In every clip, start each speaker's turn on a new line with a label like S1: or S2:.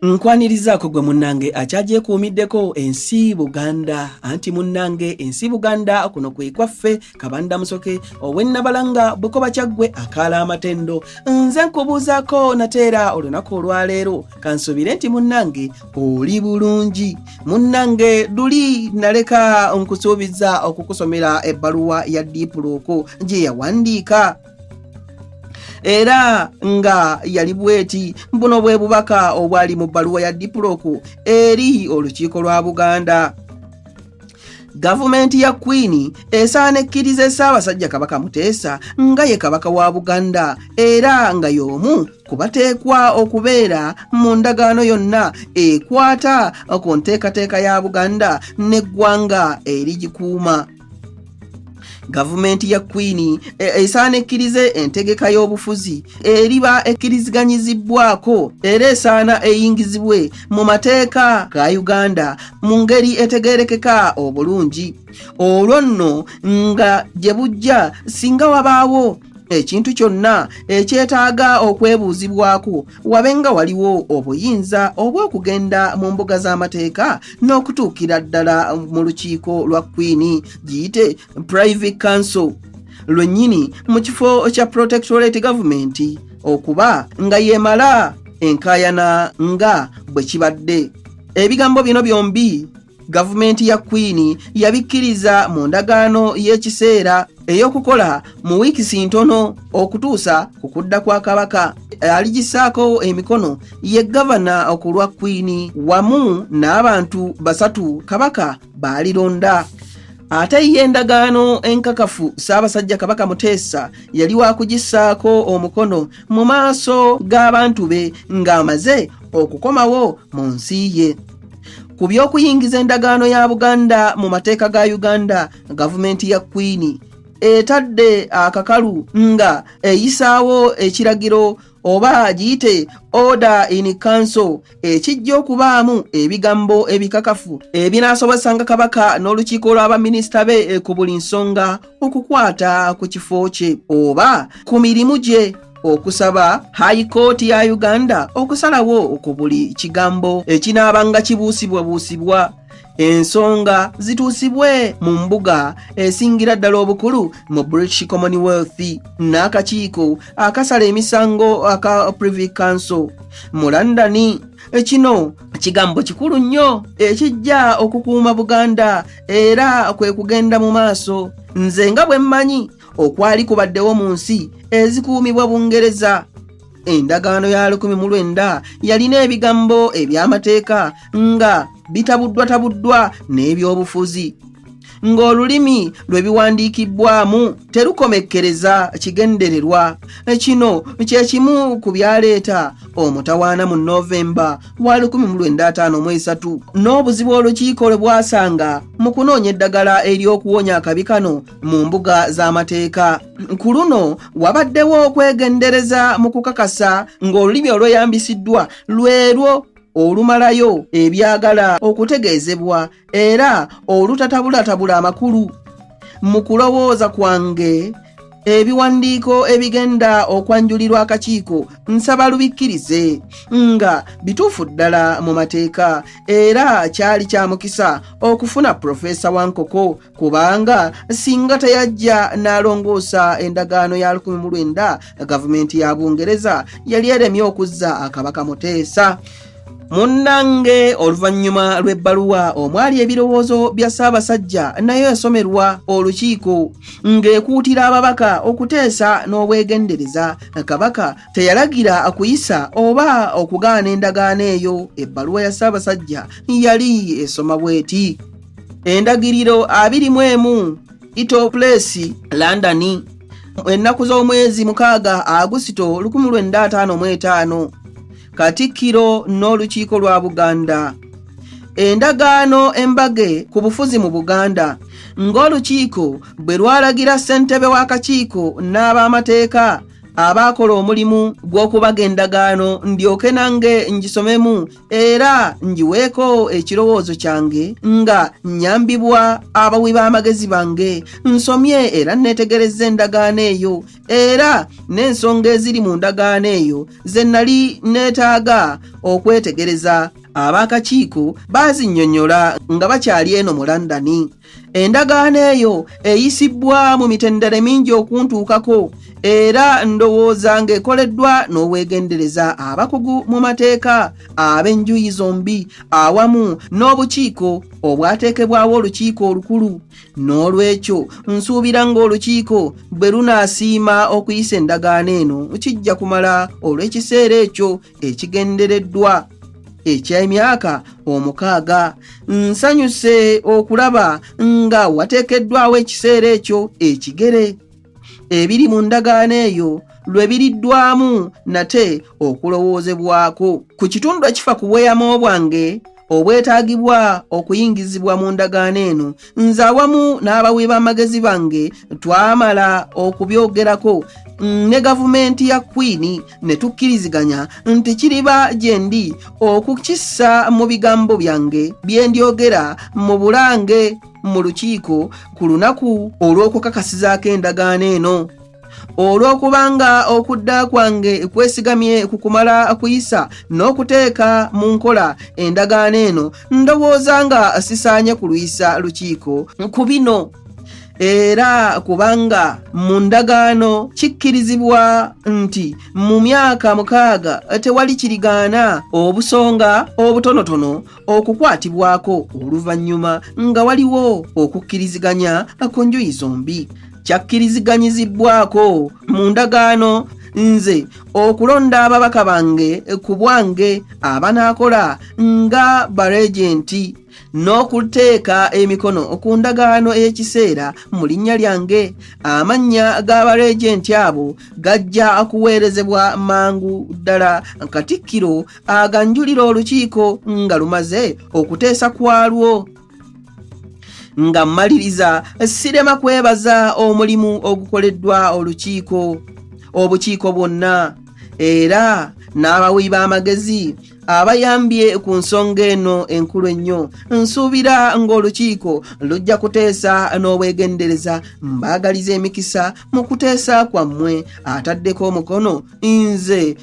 S1: nkwanirizaako gwe munnange akyagyekuumiddeko ensi buganda anti munnange ensi buganda kuno kwe kwaffe kabanda musoke owennabalanga bukoba kyaggwe akaala amatendo nze nkubuuzaako nateera olunaku olwaleero kansuubire nti munnange oli bulungi munnange luli naleka nkusuubiza okukusomera ebbaluwa ya diipuluuku gye yawandiika era nga yali bweti buno bwe bubaka obwali mu bbaluwa ya dipuloku eri olukiiko lwa buganda gavumenti ya kwini esaana ekkiriza esaabasajja kabaka muteesa nga ye kabaka wa buganda era nga y'omu ku bateekwa okubeera mu ndagaano yonna ekwata ku nteekateeka ya buganda n'eggwanga erigikuuma gavumenti ya kwini e, esaana ekkirize entegeka y'obufuzi eriba ekkiriziganyizibbwako era esaana eyingizibwe mu mateeka ga uganda mu ngeri etegerekeka obulungi olwo nno nga gye bujja singa wabaawo ekintu kyonna ekyetaaga okwebuuzibwako wabe nga waliwo obuyinza obw'okugenda mu mbuga z'amateeka n'okutuukira ddala mu lukiiko lwa kwiini giyite private council lwennyini mu kifo kya protectorate gavumenti okuba nga yeemala enkaayana nga bwe kibadde ebigambo bino byombi gavumenti ya kwini yabikkiriza mu ndagaano y'ekiseera ey'okukola mu wiikisi ntono okutuusa ku kudda kwa kabaka aligisaako emikono ye gavana ku lwa kwini wamu n'abantu basatu kabaka baalironda ate ye endagaano enkakafu ssaabasajja kabaka muteesa yali wakugisaako omukono mu maaso g'abantu be ng'amaze okukomawo mu nsi ye Ku by'okuyingiza endagaano ya Buganda mu mateeka ga Uganda, gavumenti ya Kwini etadde akakalu nga eyisaawo ekiragiro oba giyite order in council ekijja okubaamu ebigambo ebikakafu ebinaasobozesanga kabaka n'olukiiko lw'abaminisita be ku buli nsonga okukwata ku kifo kye oba ku mirimu gye okusaba hayi kooti ya uganda okusalawo ku buli kigambo ekinaabanga kibuusibwabuusibwa ensonga zituusibwe mu mbuga esingira ddala obukulu mu british commonwealth n'akakiiko akasala emisango aka privy council mu londoni kino kigambo kikulu nnyo ekijja okukuuma buganda era kwe kugenda mu maaso nze nga bwe mmanyi okwali kubaddewo mu nsi ezikuumibwa bungereza endagaano ya 19 yalina ebigambo eby'amateeka nga bitabuddwatabuddwa n'ebyobufuzi ng'olulimi lwe biwandiikibbwamu terukomekkereza kigendererwa kino kye kimu ku byaleeta omutawaana mu novemba wa 1905 mu esatu n'obuzibu olukiiko lwe bwasanga mu kunoonya eddagala ery'okuwonya akabi kano mu mbuga z'amateeka ku luno wabaddewo okwegendereza mu kukakasa ng'olulimi olweyambisiddwa lwerwo olumalayo ebyagala okutegeezebwa era olutatabulatabula amakulu mu kulowooza kwange ebiwandiiko ebigenda okwanjulirwa akakiiko nsaba lubikkirize nga bituufu ddala mu mateeka era kyali kya mukisa okufuna purofeesa wa nkoko kubanga singa teyajja n'alongoosa endagaano ya 19 gavumenti ya bungereza yali eremye okuzza akabaka muteesa munnange oluvannyuma lw'ebbaluwa omwali ebirowoozo bya ssaabasajja nayo yasomerwa olukiiko ng'ekuutira ababaka okuteesa n'obwegendereza kabaka teyalagira akuyisa oba okugaana endagaano eyo ebbaluwa ya ssaabasajja yali esoma bw'eti endagiriro abiri mu emu itoplesi london ennaku z'omwezi mukaaga agusito 1555 katikkiro n'olukiiko lwa buganda endagaano embage ku bufuzi mu buganda ng'olukiiko bwe lwalagira ssentebe w'akakiiko n'ab'amateeka abaakola omulimu gw'okubaga endagaano ndyoke nange ngisomemu era ngiweeko ekirowoozo kyange nga nnyambibwa abawi b'amagezi bange nsomye era nneetegerezza endagaano eyo era n'ensonga eziri mu ndagaano eyo ze nnali neetaaga okwetegereza ab'akakiiko baazinnyonnyola nga bakyali eno mu londoni endagaano eyo eyisibbwa mu mitendere mingi okuntuukako era ndowooza ng'ekoleddwa n'obwegendereza abakugu mu mateeka ab'enjuyi zombi awamu n'obukiiko obwateekebwawo olukiiko olukulu n'olwekyo nsuubira ng'olukiiko bwe lunaasiima okuyisa endagaano eno kijja kumala olw'ekiseera ekyo ekigendereddwa eky'emyaka omukaaga nsanyuse okulaba nga wateekeddwawo ekiseera ekyo ekigere ebiri mu ndagaano eyo lwe biriddwamu nate okulowoozebwako ku kitundu ekifa ku bweyamo bwange obwetaagibwa okuyingizibwa mu ndagaano eno nze awamu n'abawi b'amagezi bange twamala okubyogerako ne gavumenti ya kwiini ne tukkiriziganya nti kiriba gye ndi okukissa mu bigambo byange bye ndyogera mu bulange mu lukiiko ku lunaku olw'okukakasizaako endagaano eno olw'okubanga okudda kwange kwesigamye ku kumala kuyisa n'okuteeka mu nkola endagaano eno ndowooza nga sisaanye kulwisa lukiiko ku bino era kubanga mu ndagaano kikkirizibwa nti mu myaka mukaaga tewali kirigaana obusonga obutonotono okukwatibwako oluvannyuma nga waliwo okukkiriziganya ku njuyi zombi kyakkiriziganyizibbwako mu ndagaano nze okulonda ababaka bange ku bwange abanaakola nga baregenti n'okuteeka emikono ku ndagaano ey'ekiseera mu linnya lyange amannya g'abaregenti abo gajja kuweerezebwa mangu ddala katikkiro aganjulira olukiiko nga lumaze okuteesa kwalwo nga mmaliriza sirema kwebaza omulimu ogukoleddwa olukiiko obukiiko bwonna era n'abawi b'amagezi abayambye ku nsonga eno enkulu ennyo nsuubira ng'olukiiko lujja kuteesa n'obwegendereza mbaagaliza emikisa mu kuteesa kwammwe ataddeko omukono nze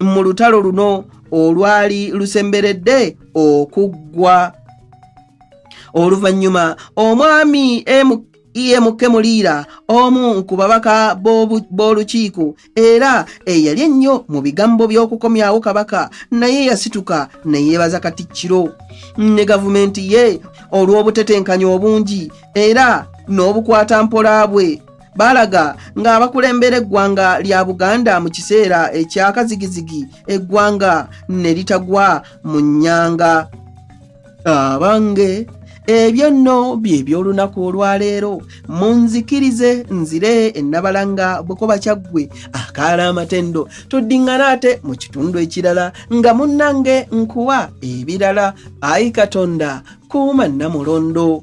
S1: mu lutalo luno olwali lusemberedde okuggwa oluvannyuma omwami emu iye mukemuliira omu ku babaka b'olukiiko era eyali ennyo mu bigambo by'okukomyawo kabaka naye yasituka ne yeebaza katikkiro ne gavumenti ye olw'obutetenkanya obungi era n'obukwata mpola bwe balaga ng'abakulembera eggwanga lya buganda mu kiseera ekyakazigizigi eggwanga ne litagwa mu nnyanga abange ebyo nno bye by'olunaku olwaleero munzikirize nzire ennabalanga bukoba kyaggwe akaala amatendo tuddiŋŋana ate mu kitundu ekirala nga munnange nkuwa ebirala ayi katonda kuuma nnamulondo